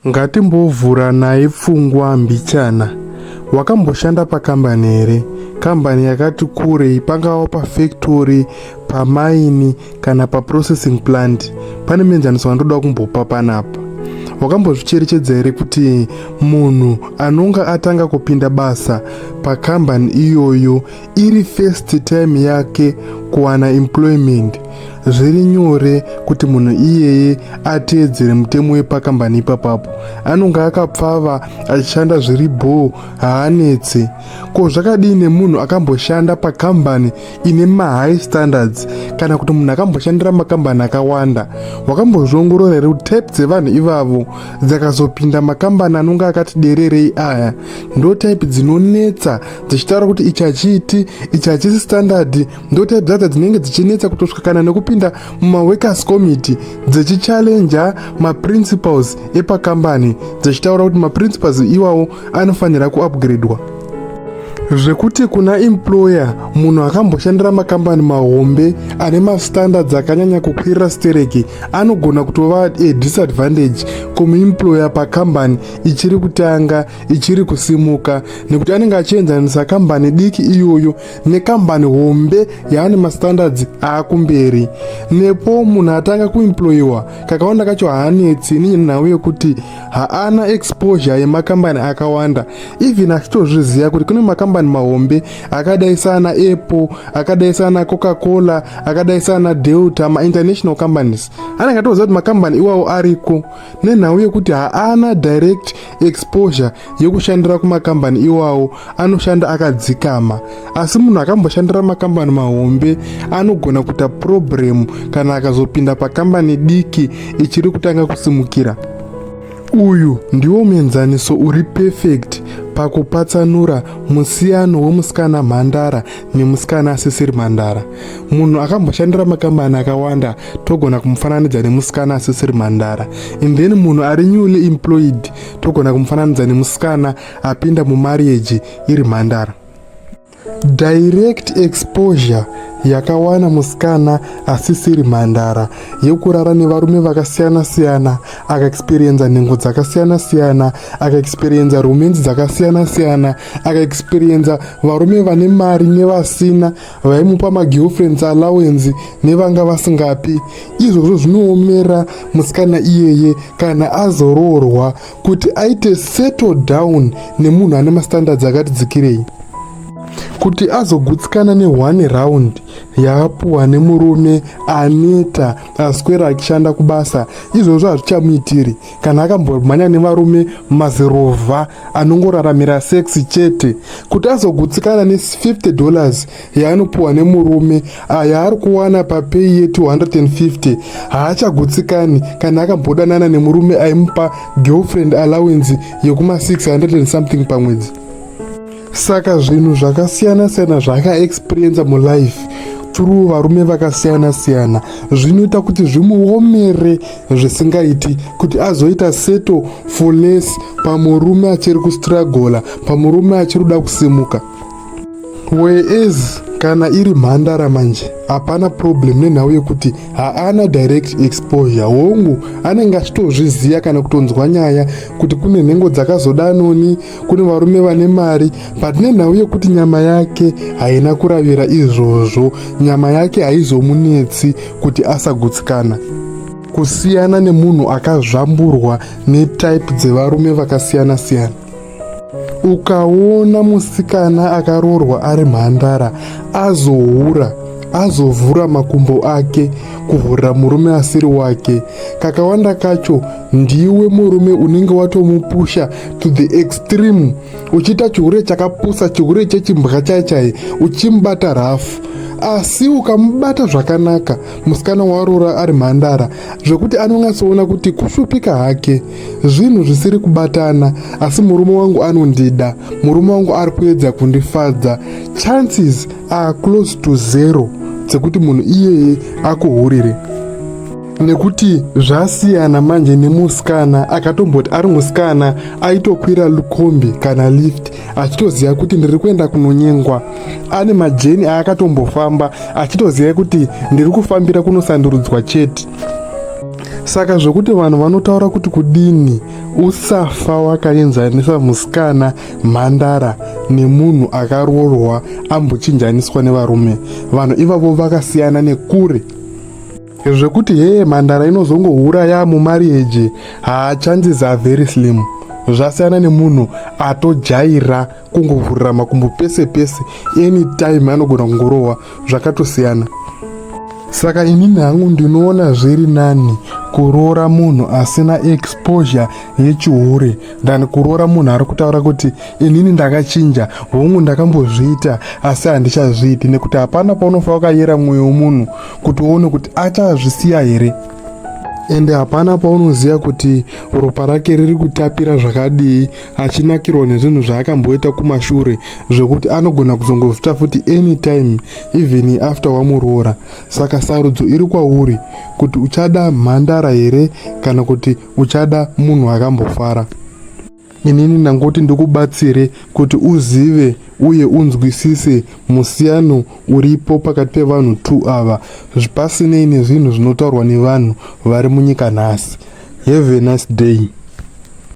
Ngatimbovhuranai pfungwa mbichana. Wakamboshanda pakambani here? Kambani yakati kurei pangava pafactory, pamaini kana paprocessing plant. Pane muenzaniso wandoda kumbopa panapa. Wakambozvicherechedza here kuti munhu anonga atanga kupinda basa pakambani iyoyo iri first time yake kuwana employment zviri nyore kuti munhu iyeye ateedzere mutemo wepakambani ipapapo anonge akapfava achishanda zviri bhoo haanetse ko zvakadii nemunhu akamboshanda pakambani ine mahigh standards kana kuti munhu akamboshandira makambani akawanda wakambozviongorora here kuti type dzevanhu ivavo dzakazopinda makambani anonge akati dererei aya ndo type dzinonetsa dzichitaura kuti ichi hachiiti ichi hachisi standard ndotype dzadzo dzinenge dzichinetsa kutosvika kana nekupinda mumaworkers committee dzichichallenger maprinciples epakambani dzichitaura kuti maprinciples iwawo anofanira kuupgradwa zvekuti kuna employer munhu akamboshandira makambani mahombe ane mastandards akanyanya kukwirira stereki anogona kutova a disadvantage kumuemployer pakambani ichiri kutanga ichiri kusimuka nekuti anenge achienzanisa kambani diki iyoyo nekambani hombe yaane mastandards aakumberi nepo munhu atanga kuemployiwa kakawanda kacho haanetsi nenhau yekuti haana exposure yemakambani akawanda even achitozviziva kuti kune makambani mahombe akadai saana apple akadai saana coca cola akadai saana delta mainternational companies anenge atoziva kuti makambani iwawo ariko nenhau yekuti haana direct exposure yekushandira kumakambani iwawo anoshanda akadzikama asi munhu akamboshandira makambani mahombe anogona kuita purobhuremu kana akazopinda pakambani diki ichiri kutanga kusimukira uyu ndiwo muenzaniso uri pefekti pakupatsanura musiyano wemusikana mhandara nemusikana asisiri mhandara munhu akamboshandira makambani akawanda togona kumufananidza nemusikana asisiri mhandara and then munhu ari newly employed togona kumufananidza nemusikana apinda mumarieji iri mhandara direct exposure yakawana musikana asisiri mhandara yekurara nevarume vakasiyana-siyana akaexperienza nhengo dzakasiyana-siyana akaexperienza rumenzi dzakasiyana-siyana akaexperienza varume vane mari nevasina vaimupa magirlfriends allowance nevanga vasingapi izvozvo zvinoomera musikana iyeye kana azoroorwa kuti aite settle down nemunhu ane mastandards akati dzikirei kuti azogutsikana nehone round yaapuwa nemurume aneta aswera achishanda kubasa izvozvo hazvichamuitiri kana akambomhanya nevarume mazirovha anongoraramira sex chete kuti azogutsikana ne50 dollars yaanopiwa nemurume aya ari kuwana papeyi ye250 haachagutsikani kana akambodanana nemurume aimupa girlfriend allowance yekuma 600 something pamwedzi saka zvinhu zvakasiyana siyana zvaakaexperiensa mulife through varume vakasiyana siyana zvinoita kuti zvimuomere zvisingaiti kuti azoita seto for less pamurume achiri kustragola pamurume achiri kuda kusimuka whereas kana iri mhandara manje hapana problem nenhau yekuti haana direct exposure hongu anenge achitozviziva kana kutonzwa nyaya kuti kune nhengo dzakazodanoni kune varume vane mari but nenhau yekuti nyama yake haina kuravira izvozvo nyama yake haizomunetsi kuti asagutsikana kusiyana nemunhu akazvamburwa netype dzevarume vakasiyana-siyana ukaona musikana akaroorwa ari mhandara azohura azovhura makumbo ake kuvhurira murume asiri wake kakawanda kacho ndiwe murume unenge watomupusha to the extreme uchiita chihure chakapusa chihure chechimbwa chai chai uchimubata rafu asi ukamubata zvakanaka musikana waroora ari mhandara zvekuti anonyasoona kuti kushupika hake zvinhu zvisiri kubatana asi murume wangu anondida murume wangu ari kuedza kundifadza chances are close to zero dzekuti munhu iyeye akuhurire nekuti zvasiyana manje nemusikana akatomboti ari musikana aitokwira lukombi kana lift achitoziva kuti ndiri kuenda kunonyengwa ane majeni aakatombofamba achitoziva kuti ndiri kufambira kunosandurudzwa chete saka zvokuti vanhu vanotaura kuti kudini usafa wakaenzanisa musikana mhandara nemunhu akaroorwa ambochinjaniswa nevarume vanhu ivavo vakasiyana nekure zvekuti hee mhandara inozongouraya mumariage haa chances are very slim zvasiyana nemunhu atojaira kungovhurira makumbo pese pese anytime anogona kungorohwa zvakatosiyana saka inini hangu ndinoona zviri nani kuroora munhu asina exposure yechihure than kuroora munhu ari kutaura kuti inini ndakachinja hongu ndakambozviita asi handichazviiti nekuti hapana paunofa wakayera mwoyo womunhu kuti uone kuti achazvisiya here ende hapana paunoziva kuti ropa rake riri kutapira zvakadii achinakirwa nezvinhu zvaakamboita kumashure zvekuti anogona kuzongozvita futi anytime even after wamuroora saka sarudzo iri kwauri kuti uchada mhandara here kana kuti uchada munhu akambofara inini ndangoti ndikubatsire kuti uzive uye unzwisise musiyano uripo pakati pevanhu two ava pasinei nezvinhu zvinotaurwa nevanhu vari munyika nhasi have a nice day